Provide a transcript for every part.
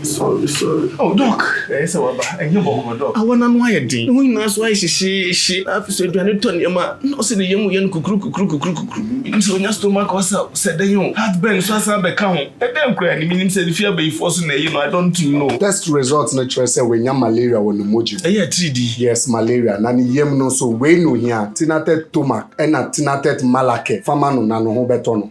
Sorry, sorry. Oh, Doc, ɛyɛ eh, sɛ waba. Ɛnyɛ bɔkɔ, Doc. Awa n'ano ayɛ den. Ne ho nyinaa so ayɛ hyehyeehye. Afei so aduane tɔ nneɛma. Na ɔsɛ ne yam yɛ no kukuru kukuru kukuru kukuru. Menim sɛ onya stomach ulcer sɛ dɛn o. Heartburn so asan abɛka ho. Ɛdɛn koraa ni, menim sɛ ne fie abayifoɔ so na ɛyɛ no. I don't know. Test result no kyerɛ sɛ wanya malaria wɔ ne mogya mu. Ɛyɛ atiridi. Yes, malaria. Na ne yam no nso, wei na ohia, Tinatet Tomac ɛna Tinatet Malaquer. Fa ma no na ne ho bɛtɔ no.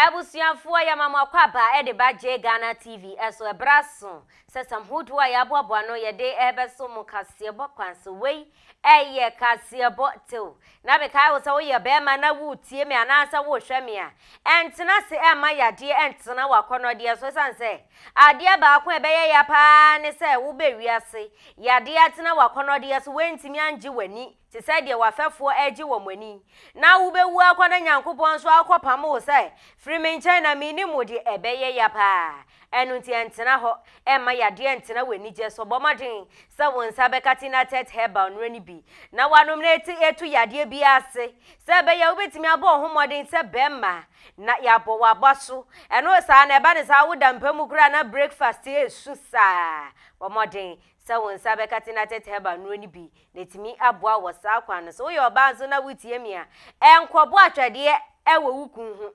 Abusuafoɔ yɛma mo akwaba de ba Jay Ghana TV so ɛberɛ aso sɛ sam hodoɔ a yɛaboaboa no yɛde rebɛso mo kaseɛbɔ kwan so wei yɛ kaseɛbɔ tew na mekae wo sɛ woyɛ bɛɛma na woretie me anaasɛ worehwɛ me a ɛntena ase ɛmma yadeɛ ɛntena wakɔnɔdeɛ so ɛsiane sɛ adeɛ baako a ɛbɛyɛ ya paa ne sɛ wobɛ wiase yadeɛ atena wakɔnɔdeɛ so woantumi angye w'ani te sɛ deɛ w'afɛfoɔ regye wɔn ani, na wobɛwu akɔ na Nyankopɔn nso akɔpamo wo sɛ, Firi me nkyɛn na mennim wo deɛ ɛbɛyɛ ya paa. Ɛno nti ɛntena hɔ, ɛmma yadeɛ ntena w'anigyɛ so, bɔ mmɔden sɛ wo nsa bɛka Tinatet Herbal nnuro no bi na woanom na ɛte ɛtu yadeɛ biara ase, sɛ ɛbɛyɛ a wobɛtumi abɔ wo ho mmɔden sɛ bɛrima na yɛabɔ w'abaso. Ɛno saa na ɛba no saa woda mpa mu koraa na breakfast ɛresu saa, bɔ mmɔden sɛ wo nsa bɛka Tinatet Herbal nnuro no bi na etumi aboa wɔ saa kwan no so. Woyɛ ɔbaa nso na wutie me a, ɛnkɔbɔ atwɛdeɛ wɔ wo kun ho.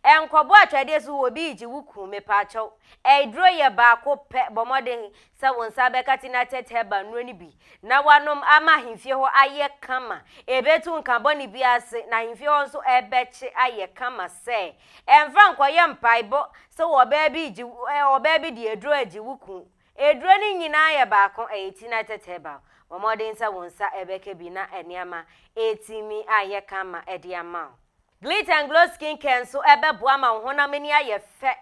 Ɛnkɔbɔ atwɛdeɛ so wɔ obi regye wo kun, mepaakyɛw. Aduro yɛ baako pɛ, bɔ mmɔden sɛ wo nsa bɛka Tinatet Herbal nnuro no bi na woanom ama ahemfie hɔ ayɛ kama. Ɛbɛtu nka bɔne biara ase, na ahemfie hɔ nso ɛbɛkye ayɛ kama sɛ ɛmfa nkɔyɛ mpaebɔ sɛ ɔbaa bi regye, ɔbaa bi de aduro regye wo kun. Aduro no nyinaa yɛ baako, ɛyɛ ti na ɛtɛtɛ herbal. Bɔ mmɔden sɛ wo nsa bɛka bi na nneɛma atumi ayɛ kama de ama wo. Glitt and Glow Skin Care nso bɛboa ma wo honam ani ayɛ fɛ,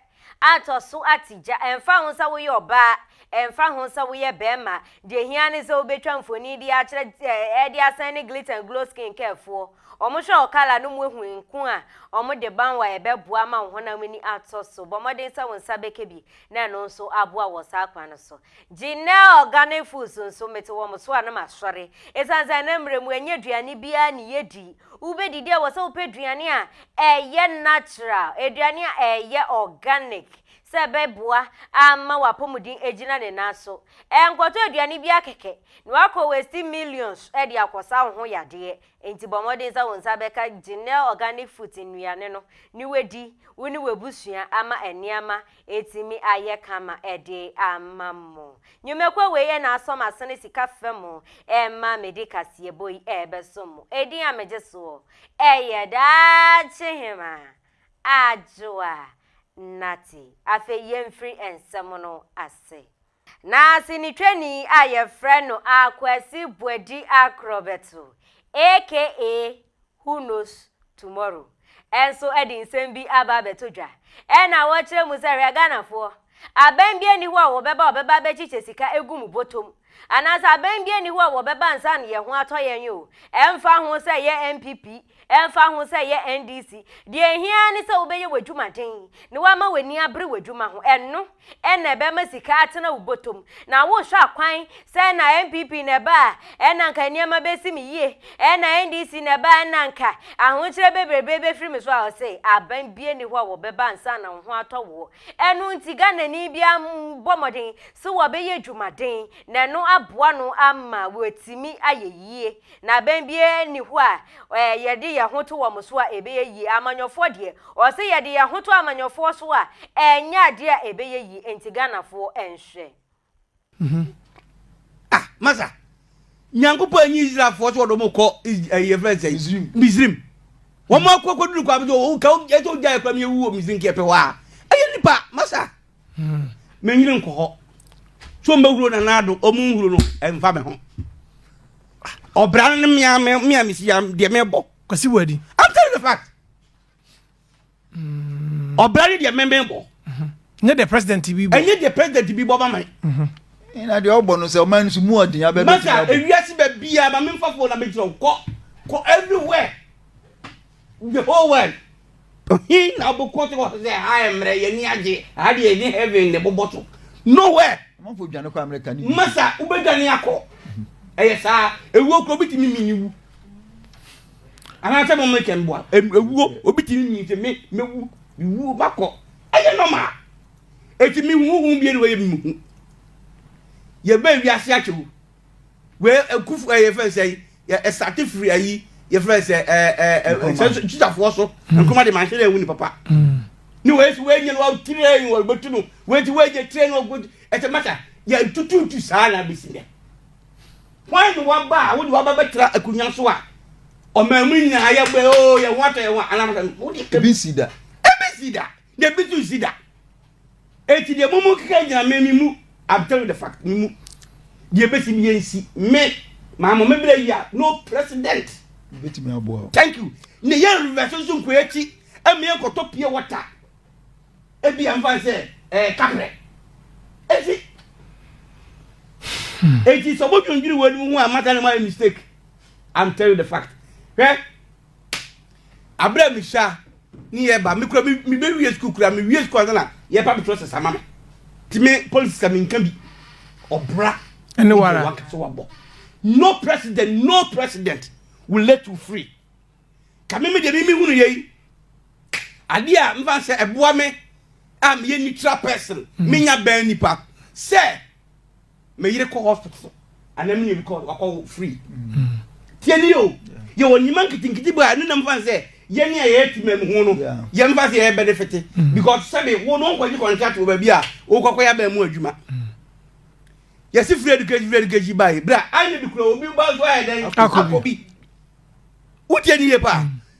atɔ so ate gya. Ɛmfa ho sɛ woyɛ ɔbaa, ɛmfa ho sɛ woyɛ barima, deɛ ɛhia ne sɛ wobɛtwa mfoni de akyerɛ eh, de asan ne Glitt and Glow Skin Care foɔ. Wɔhwɛ wo kala no mu hu nko a wɔde ban wo a ɛbɛboa ama wo honam ani atɔ so. Bɔ mmɔden sɛ wo nsa bɛka bi na ɛno nso aboa wɔ saa kwan no so. Janelle Organic Foods nso, mete wɔn so a na masɔre. Ɛsiane sɛ na mmerɛ mu ɛnyɛ aduane biara ne yɛdi. Wobɛdidi a wɔ sɛ wopɛ aduane a ɛyɛ natural, aduane a ɛyɛ organic, sɛ ɛbɛboa ama w'apɔmuden agyina ne nan so. Ɛnkɔtɔ aduane biara kɛkɛ na woakɔ waste millions de akɔsa wo ho yadeɛ. Enti bɔ mmɔden sɛ wo nsa bɛka Genel Organic Foods nnuane no ne wadi wo ne w'abusua ama nneɛma atumi ayɛ kama de ama mo. Nnwumakuo wei yɛ n'asɔ m'asene sika fa mu ma mede kaseɛbɔ yi rebɛsom mo. Edin a megye soɔ yɛ Daakyehema Adwoa Nartey. Afei yɛmfiri nsɛm no ase. Na sinitwani a yɛfrɛ no Akwasi Boadi Akrɔbɛto aka Who Knows Tomorrow nso de nsɛm bi aba abɛto dwa na ɔrekyerɛ mu sɛ, Hwɛ Ghanafoɔ, aban biara nni hɔ a wɔbɛba a wɔbɛba abɛkyekyɛ sika agu mo bɔtɔm, anaasɛ aban biara nni hɔ a wɔbɛba nsa ano yɛn ho atɔ yɛn o, ɛmfa ho sɛ ɛyɛ NPP, ɛmfa ho sɛ ɛyɛ NDC, deɛ ɛhia ara ne sɛ wobɛyɛ w'adwumaden na woama w'ani abere w'adwuma ho, ɛno. Ɛna ɛbɛma sika atena wo bɔtɔm. Na wohwɛ akwan sɛ ɛna NPP na ɛba a, ɛna anka nneɛma bɛsi me yie. Ɛna NDC na ɛba a, ɛna anka ahokyerɛ bebrebe bɛfiri me so a, ɔse, aban biara nni hɔ a wɔbɛba ansa na wo ho atɔ woɔ. Ɛno nti Ghanani biara mmɔ mmɔden sɛ wɔbɛyɛ adwumaden na ɛno aboa no ama watumi ayɛ yie. Na abɛn biara nni hɔ a eh, yɛde yɛn ho to wɔn so a ɛbɛyɛ yie. Amanyɔfoɔ deɛ, ɔse yɛde yɛn ho to amanyɔfoɔ so a, ɛnyɛ adeɛ a ɛbɛyɛ yie. Enti Ghanafoɔ nhwɛ. Mhm. Ah, masa. Nyankopɔn anyi Israelfoɔ sɛ wɔde wɔn kɔ ɛyi yɛfrɛ no sɛn? Misrim. Wɔn akɔ akɔduru kɔ abɛgye wɔn ka ɛsɛ ogya yɛ kora mi ewu wɔ Misrim kɛ pɛ hɔ a. Ɛyɛ nipa masa. Mennyini nkɔ hɔ. So mbɛhuro nana do ɔmo nhuro no ɛnfa me ho. Ɔbra no ne mmea mmea me si ya deɛ mebɔ. Kwasi wɔ adi. I'm telling the fact. Mm. Ɔbra no deɛ mɛmɛ bɔ. Mm-hmm. Nye deɛ president bi bɔ. Enye deɛ president bi bɔ ba man. Mm-hmm. Na deɛ ɔbɔ no sɛ ɔman no so mu ɔden abɛbɛ ti abɔ. Maka ewiase bɛ bia ma memfa fo na mekyerɛ kɔ kɔ everywhere. Joel, He na ɔbɛkɔ so wɔ sɛ ha yɛ mmerɛ, yɛn ani agye, ha deɛ yɛde heaven na ɛbobɔ so. Nowhere. Amanfoɔ dwane kɔ America ne UK. Masa, wobɛdwane akɔ. Ɛyɛ saa. Ewuo kura obi tumi mini wu. Anaasɛ mo mmerɛkyɛ mboa. Ewuo, obi tumi mini sɛ me, mewu, mewu, makɔ. Ɛyɛ normal. Eti me huhu bie na wɔyɛ me hu. Yɛbɛɛ wiase akyɛw. Wei nkufo ɛyɛ fɛn sɛ yɛ ɛsate firi ayi yɛ fɛn sɛ ɛɛ ɛɛ sɛ titafoɔ so mm. nkoma de manhyɛ dɛ ɛwu ni papa mm. ne wei so wei nyɛ no wɔtirɛn wɔ bɛtu no wei ti wei nyɛ tirɛn wɔ bɛtu ɛsɛ masa yɛ ntututu saa na bɛsi nɛ wɔn ne wɔn ba a wɔde wɔn ba bɛtira akonnwa so a ɔmɛmu nyinaa yɛ bɛ oo yɛ wɔn atɔ yɛ wɔn anamasa no wɔde ebi si da ebi si da Deɛ bi tu si da. Eti deɛ mo mo keka gyina me me mu. I'm telling you the fact me mu. Deɛ besi mi yɛn si me. Maa mo me bere yi a no president. Betumi aboa o. Thank you. Ne yɛn reverse nso nkɔ akyi. Ɛmi yɛn kɔtɔ pie water. Ebi yɛn fa sɛ ɛɛ kapre. Eti eti sɛ ɔmo dwendwene wɔn anim ho a mata ne mo ayɛ mistake. I'm telling you the fact. Hwɛ abere a mehyia ne yɛ ba mekura mebɛwie sukuu kura mewie sukuu ansa na yɛpa me trɔsɛs ama me nti me politics a menka bi ɔbra ɛne wara wankasa wabɔ no president no president will let you free ka me me deɛ meme hunu yei adeɛ a mfa sɛ ɛboa me a meyɛ neutral person menya bɛn nipa sɛ me yere kɔ hospital anaa me nua kɔ wakɔ wo free tie ni o yɛ wɔ nneɛma nketenkete bi a ɛno nam fa sɛ yɛne a yɛyɛ tuma mu ho no yɛn fa sɛ yɛyɛ benefit because sɛbi wo no nkɔgye contract wɔ baabi a wokɔkɔ yɛ abɛn mu adwuma yɛsi free education free education baa yi bra ayɛ bi kura obi ba so ayɛ dɛn akɔ bi wotie ni yɛ paa.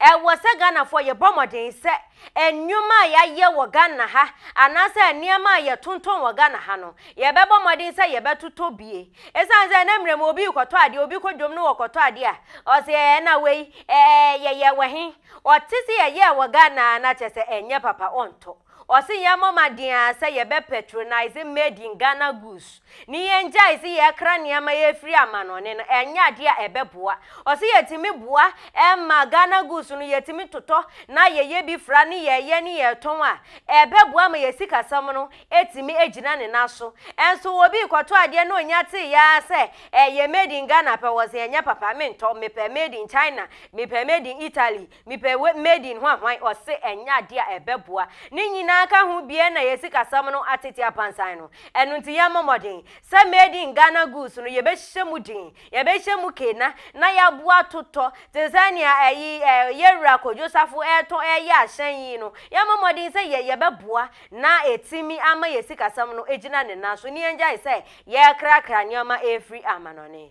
Ɛwɔ sɛ Ghanafoɔ yɛbɔ mmɔden sɛ nneɛma a yɛayɛ wɔ Ghana ha anaasɛ nneɛma a yɛtontɔn wɔ Ghana ha no, yɛbɛbɔ mmɔden sɛ yɛbɛtotɔ bie. Ɛsiane sɛ ɛnɛ mmerɛ mu obi rekɔtɔ adeɛ, obi kɔ dwom no wɔkɔtɔ adeɛ a, ɔse ɛɛ na wei ɛɛ yɛyɛ wɔ he? Ɔte sɛ yɛyɛɛ wɔ Ghana na kyerɛ sɛ ɛnyɛ papa ɔntɔ. Ɔse yɛmmɔ mmɔden ara sɛ yɛbɛ patronise made in Ghana goods ne yɛngyae se yɛkra nneɛma yi afiri amanɔne no, ɛnyɛ adeɛ a ɛbɛboa. Ɔse yɛtumi boa ma Ghana goods no yɛtumi totɔ na yɛyɛ bi fra ne yɛyɛ ne yɛtɔn a, ɛbɛboa ma yɛn sikasɛm no atumi agyina ne nan so. Nso obi rekɔtɔ adeɛ na ɔnya tee ara sɛ ɛyɛ made in Ghana pɛ, ɔse ɛnyɛ papa, mentɔ, mepɛ made in China, mepɛ made in Italy, Mepɛ we made in hwanhwan ɔse ɛnyɛ adeɛ a ɛbɛboa ne nyinaa ka ho bie na yɛ sikasɛm no atete apansan no ɛno nti yɛ mmɔ mmɔden sɛ made in Ghana goods no yɛbɛhyɛ mu den yɛbɛhyɛ mu kena na yɛaboa totɔ te sɛ nea ɛyi ɛ yɛwura Kojo Safo ɛɛtɔ ɛɛyɛ ahyɛn yi no yɛ mmɔ mmɔden sɛ yɛ yɛbɛboa na ɛtimi ama yɛ sikasɛm no ɛgyina ne nan so ne yɛngyae sɛ yɛɛkrakra nneɛma ɛɛfiri amanɔne.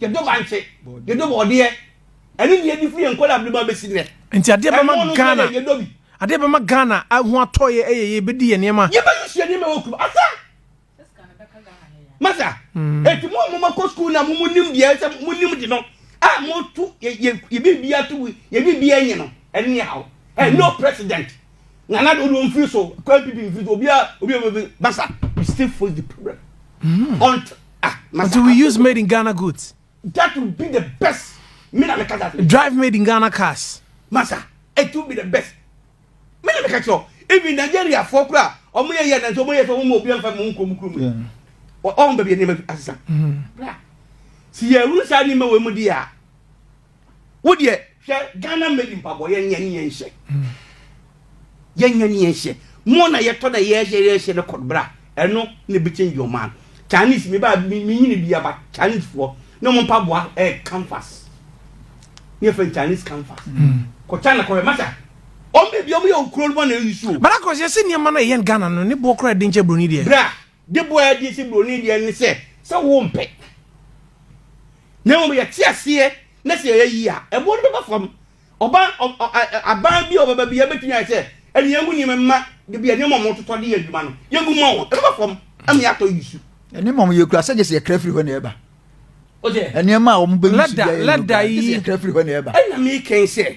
Yɛdɔ bankye, yɛdɔ bɔɔdeɛ, ɛne deɛ ɛdi firi yɛn nkɔla abirima bɛsi nnɛ. Nti adeɛ bɛma Ghana, adeɛ bɛma Ghana ho atɔ yɛ ɛyɛ yɛbɛdi yɛ nneɛma. Yɛbɛyi hyɛ nneɛma ɛwɔ kurom asa. Masa, hmm. eti mo a mo ma kɔ sukuu na mo mo nim deɛ ɛsɛ mo nim de no a mo to yɛ yɛ yɛ bi bi ato yɛ bi bi ɛnyɛ no ɛne yɛ awo ɛ no president nana de olu nfiri so kɔ npp nfiri so obi a obi a obi masa we still face the problem. Mm. Until Ah, masa. Do we use made in Ghana goods? That would be the best. Me na me ka that. Drive made in Ghana cars. Masa, it would be the best. Me na me ka kyerɛ even Nigeria fo kura ɔmo yɛ yɛ na nso ɔmo yɛ sɛ ɔmo obi anfa mu nkurom kurom yi. Ɔmo bɛbi nneɛma asesa. Bra, si yɛ wuru saa nneɛma wɔ mu di a. Wo deɛ hwɛ Ghana mmɛdi mpaboa yɛnyɛ ne yɛnhyɛ. Yɛnyɛ ne yɛnhyɛ. Mo na yɛtɔ dɛ yɛhyɛ yɛhyɛ ne kɔd bra. Ɛno na ebi change your man. Chinese me ba me nyini bi aba Chinese foɔ ne wɔn mpaboa ɛyɛ eh, canvas. Ne yɛ fɛn Chinese canvas. Mm. Kɔ China kɔ yɛ masa. Wɔn bɛ bi wɔn yɛ okuro no bɔ na eyi suo. Bala kɔsi ɛsi nneɛma na yɛn Ghana no ne boɔ kora ɛdi nkyɛn broni deɛ. Bra de bɔ a ɛde si buroni deɛ ne sɛ sɛ wompɛ na mmom yɛte aseɛ na sɛ yɛyɛ yie a ɛboɔ no bɛba fam ɔban aban bi a ɔbɛba bi yɛbɛtumi ayɛ sɛ ɛne yɛngu nneɛma mma de bi a nneɛma ɔmo totɔ de yɛ adwuma no yɛngu ma wɔn ɛbɛba fam ɛma yɛatɔ yi su ɛne ma ɔmo yɛkura sɛ gye sɛ yɛkra firi hɔ na ɛba nneɛma a wɔn bɛ yi su yɛ yɛ no gye sɛ yɛkra firi hɔ na ɛba ɛna mi kɛn sɛ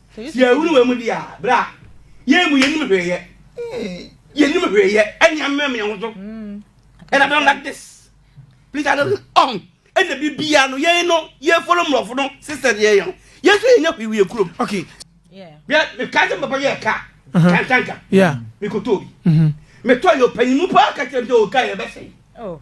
Sɛ yɛhunu wei mu deɛ a, bra. Yɛn mu yɛnim hwee yɛ. Yɛnim hwee yɛ. Ɛne amem yɛn ho so. And I don't like this. Please, I don't um. Ɛna biribiara no yɛn no yɛfolo mmorɔfo no sesɛ deɛ yɛn. Yɛn so yɛnya hwee wɔ kurom. Okay. Bia meka sɛ papa yɛ ka. Kantanka. Yeah. Mekɔtɔ bi. Metɔ yɛ ɔpanyimu paa ka kyerɛ me sɛ ɔka yɛ bɛsɛe. Oh.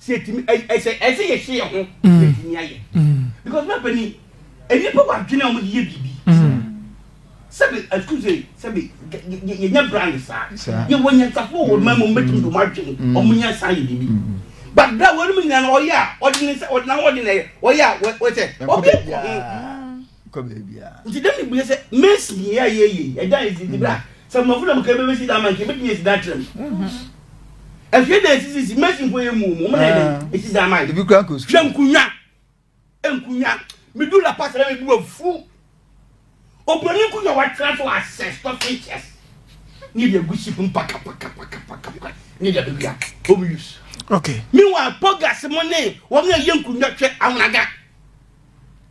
sɛ ɛtumi ɛsɛ ɛsɛ yɛhyɛ yɛn ho na ɛtumi ayɛ because na pani nnipa wɔ adwene a wɔde yɛ biribi sɛbi excuse me sɛbi yɛnyɛ brand saa yɛwɔ nyansafo wɔ mmaa mu wɔbɛtumi de wɔn adwene wɔn nya saa yɛ biribi but bra wɔn mu nyinaa ɔyɛ a ɔde ne sɛ ɔde na ɔde na ɔyɛ a wɔsɛ ɔbɛ nkɔ ho. kɔ baabiara. nti dɛn ne bue sɛ mesi yei a yɛyɛ yi ɛda ne si nti bra sɛ mmɔfo na mekɛ bɛbɛsi da ama nka mɛtumi asi da akyerɛ mu afie da ɛsisisi mesi mpo yɛ mu mu mena ɛdɛn ɛsi da ama ebi kura nkɔ sukuu hwɛ nkunya nkunya medu la pasa na mebu afu obroni nkunya watena so asɛ stop features ne deɛ gu ship mpakapakapakapaka ne deɛ bɛwia home use okay meanwhile pogas mo ne wɔn a yɛ nkunya hwɛ ahonaga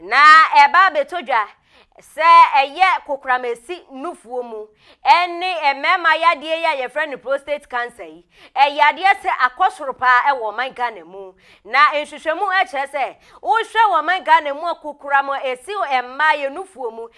Na ɛba abɛtɔ dwa sɛ ɛyɛ kokoramasi nufoɔ mu ne mmarima yadeɛ yi a yɛfrɛ no prostate cancer yi, ɛyɛ adeɛ sɛ akɔ soro paa wɔ ɔman Ghana mu. Na nhwehwɛmu kyerɛ sɛ wohwɛ wɔ ɔman Ghana mu a kokoram a ɛsi mmaa yɛ nufoɔ mu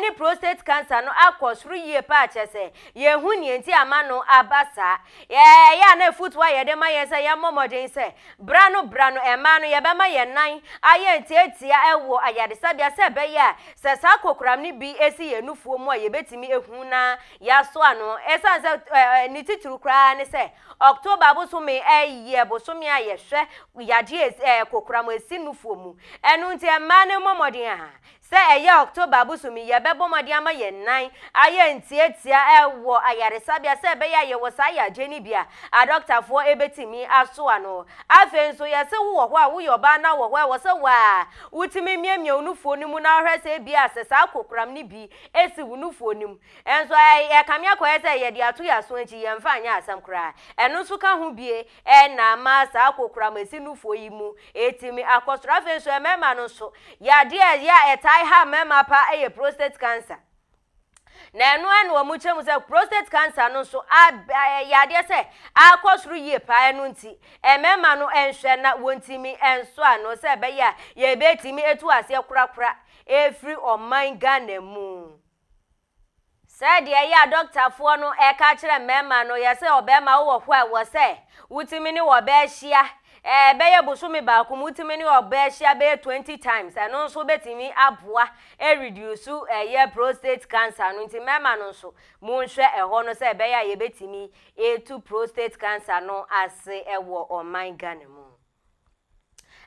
ne prostate cancer no akɔ soro yie paa kyerɛ sɛ yɛhu nea nti ama no aba saa. Ɛyɛ a na afotu a yɛde ma yɛn sɛ yɛmmɔ mmɔden sɛ bra no bra no mmaa no yɛbɛma yɛn nan ayɛ ntiatia wɔ ayaresabea sɛ ɛbɛyɛ a sɛ saa kokoram no bi si yɛn nufoɔ mu a yɛbɛtumi ahu na yɛaso ano. Ɛsiane sɛ eh, ne titiriw koraa ne sɛ October bosome eh, yɛ bosome a yɛhwɛ yadeɛ eh, kokoram ɛsi nufoɔ mu. Ɛno nti mmaa no mmɔ mmɔden a Sɛ ɛyɛ October bosome yi a, ɛbɛbɔ mmɔden ama yɛn nan ayɛ ntiatia wɔ ayaresabea sɛ ɛbɛyɛ a yɛwɔ saa yadeɛ no bi a adɔktafoɔ bɛtumi aso ano. Afei nso, yɛse wowɔ hɔ a woyɛ ɔbaa na wɔ hɔ a ɛwɔ sɛ wo ara wotumi miamia wo nufoɔ no mu na wohwɛ sɛ ebia sɛ saa kokoram no bi si wo nufoɔ no mu nso a, ɛkame akɔyɛ sɛ yɛde ato yɛn aso akyi, yɛmfa nyɛ asɛm koraa. Ɛno nso ka ho bie. Ɛna ama saa kokoramasi nufoɔ yi mu ɛtumi akɔ soro. Afei nso mmarima no nso, yadeɛ a ɛyɛ a ɛtae ha mmarima paa ɛyɛ prostate cancer. Na ɛno ɛna wɔn kyerɛ mu sɛ prostate cancer no nso ɛyɛ adeɛ sɛ akɔ soro yie paa ɛno nti mmarima no ɛnhwɛ na wɔntumi ɛnso ano sɛ ɛbɛyɛ a yɛbɛtumi ɛtu aseɛ korakora ɛfiri ɔman Ghana mu. Sɛdeɛ ɛyɛ a dɔktafoɔ no reka akyerɛ mmarima no, yɛ sɛ ɔbarima wowɔ hɔ a ɛwɔ sɛ wotumi ne ɔbaa hyia ɛbɛyɛ bosome baako mu, wotumi ne ɔbaa hyia bɛyɛ 20 times, ɛno nso bɛtumi aboa ɛrediusu ɛyɛ prostate cancer no, nti mmarima no nso monhwɛ ɛhɔ no sɛ ɛbɛyɛ a yɛbɛtumi ɛtu prostate cancer no ase ɛwɔ ɔman Ghana mu.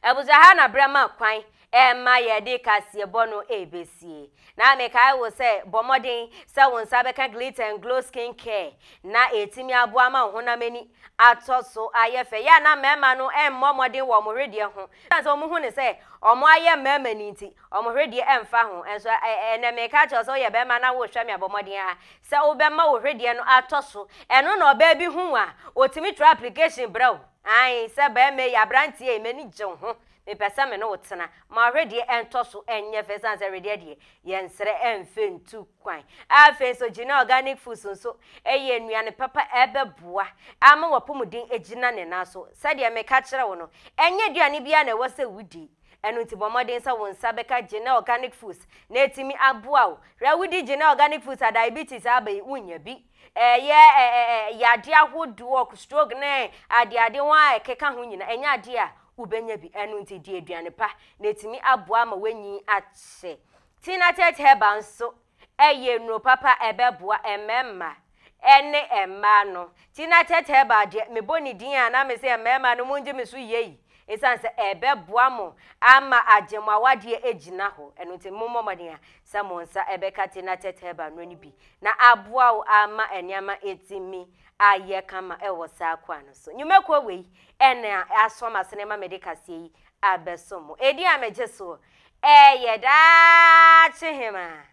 Abusua ha na berɛ ma kwan ɛma yɛde kaseɛbɔ no ɛbɛsie. Na mekae wo sɛ bɔ mmɔden sɛ wo nsa bɛka Glitter and Glow Skin Care na ɛtumi aboa ma wo honam ani atɔ so ayɛ fɛ. Yɛ a na mmarima no mmɔ mmɔden wɔ wɔn hwedeɛ ho. Ɛsiane sɛ wɔhu no sɛ wɔn ayɛ mmarima ni nti, wɔn hwedeɛ ɛmfa ho. Nso ɛnɛ meka akyerɛ wo sɛ woyɛ barima na wohwɛ me a, bɔ mmɔden ara sɛ wobɛma wo hwedeɛ no atɔ so. Ɛno na ɔbaa bi hu wo a, ɔtumi twerɛ application brɛ wo. Ae, sɛ barima yi, aberanteɛ yi, m'ani gye wo ho, mepɛ sɛ me ne wo tena. Ma wedeɛ ɛntɔ so nyɛ fɛ, ɛsiane sɛ wedeɛ deɛ, yɛnsrɛ mfe ntu kwan. Afei nso, Genel Organic Foods nso yɛ nnuane papa a ɛbɛboa ama w'apɔmuden agyina ne nan so. Sɛdeɛ meka kyerɛɛ wo no, ɛnyɛ aduane biara na ɛwɔ sɛ wodi. Ɛno nti, bɔ mmɔden sɛ wo nsa bɛka Genel Organic Foods na atumi aboa wo. Hwɛ, wodi Genel Organic Foods a, diabetes a aba yi, wonnya bi. Ɛyɛ yadeɛ ahodoɔ, stroke ne adeade ho a ɛkeka ho nyina, ɛnyɛ adeɛ a wobɛnya bi. Ɛno nti di aduane pa na ɛtumi aboa ma woanyin akyɛ. Tinatate herbal nso ɛyɛ nnuro papa a ɛbɛboa mmarima ɛne mmaa no. Tinatate herbal deɛ mebɔ ne din a na mese mmarima no mongye me so yei. Ɛsiane sɛ ɛbɛboa mo ama agye mo awadeɛ agyina hɔ. Ɛno nti mommɔ mmɔden a sɛ mo nsa bɛka Tina Turtle Band no bi na aboa wo ara ma nneɛma atumi ayɛ kama wɔ saa kwan no so. Nnwumakuo wei na aso ama sene ma mede kaseɛ yi abɛsom mo. Edin a megye soɔ yɛ Daakyehemaa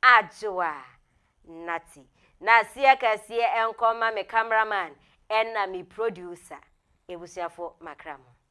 Adwoa Natty. Naseɛ kɛseɛ nkɔma me cameraman ɛna me producer. Abusuafoɔ makra mo.